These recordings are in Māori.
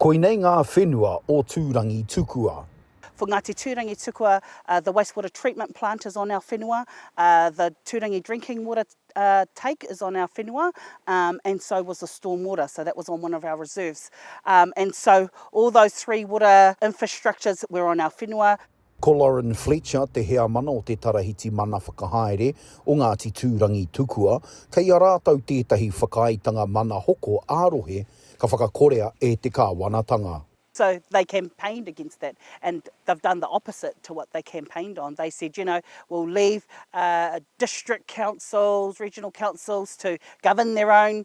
Koinei ngā whenua o Tūrangi tukua. For Ngāti Tūrangi tukua, the waste water treatment plant is on our whenua, the Tūrangi drinking water take is on our whenua and so was the storm water, so that was on one of our reserves and so all those three water infrastructures were on our whenua. Ko Lauren Fletcher te heamana o te Tarahiti Mana Whakahaere o Ngāti Tūrangitukua, kei a rātou tētahi whakaaetanga mana hoko ā-rohe ka whakakorea e te kāwanatanga. So they campaigned against that and they've done the opposite to what they campaigned on. They said, you know, we'll leave district councils, regional councils to govern their own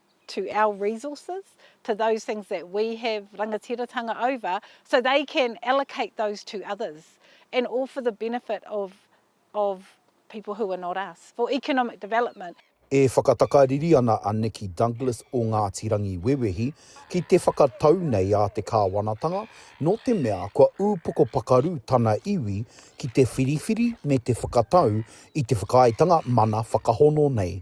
to our resources, to those things that we have rangatiratanga over, so they can allocate those to others, and all for the benefit of, of people who are not us, for economic development. E whakatakariri ana a Nikki Douglas o Ngāti Rangiwewehi ki te whakatau nei a te kāwanatanga nō te mea kua ūpoko pakaru tana iwi ki te whiriwhiri me te whakatau i te whakaaetanga mana whakahono nei.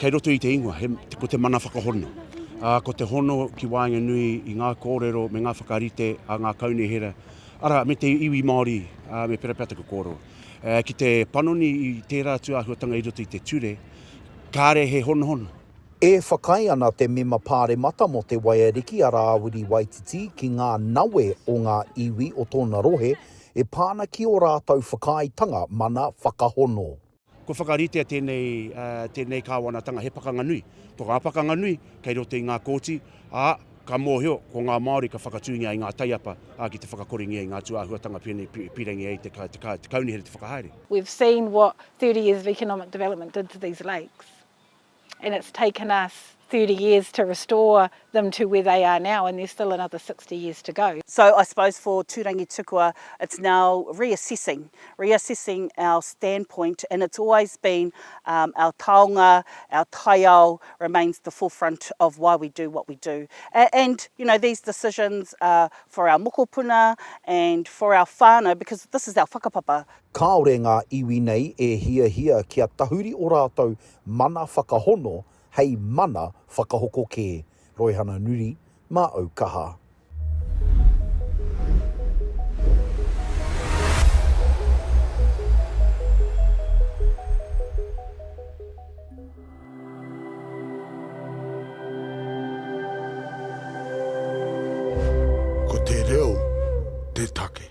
Kei roto i te ingoa, he, ko te mana whakahono. Ā, ko te hono ki waenganui i ngā kōrero me ngā whakarite a ngā kaunihera, arā, me te iwi Māori, ā, me pērā pea taku kōrero. Ā, ki te panoni i tērā atu āhuatanga i roto i te ture, kāre he honohono. E whakaae ana te Mema Pāremata mō Te Waiariki a Rāwiri Waititi ki ngā nawe o ngā iwi o tōna rohe e pā ana ki ō rātou whakaaetanga mana whakahono. Kua whakaritea tēnei, tēnei kāwanatanga he pakanga nui. Ko ngā pakanga nui kei roto i ngā kōti, ā, ka mōhio ko ngā Māori ka whakatūngia i ngā taiapa, ā, ki te whakakorengia i ngā tūāhuatanga pēnei i pīrangi ai te kaunihera te whakahaere. We've seen what thirty years of economic development did to these lakes. and it's taken us thirty years to restore them to where they are now and there's still another sixty years to go. So I suppose for Turangi Tukua it's now reassessing, reassessing our standpoint and it's always been our taonga, our taiao remains the forefront of why we do what we do. And you know these decisions are for our mokopuna and for our whānau because this is our whakapapa. Kāore ngā iwi nei e hiahia kia tahuri o rātou Mana whakahono hei mana whakahoko kē. Roihana Nuri, Mā au kaha. Ko te reo te take.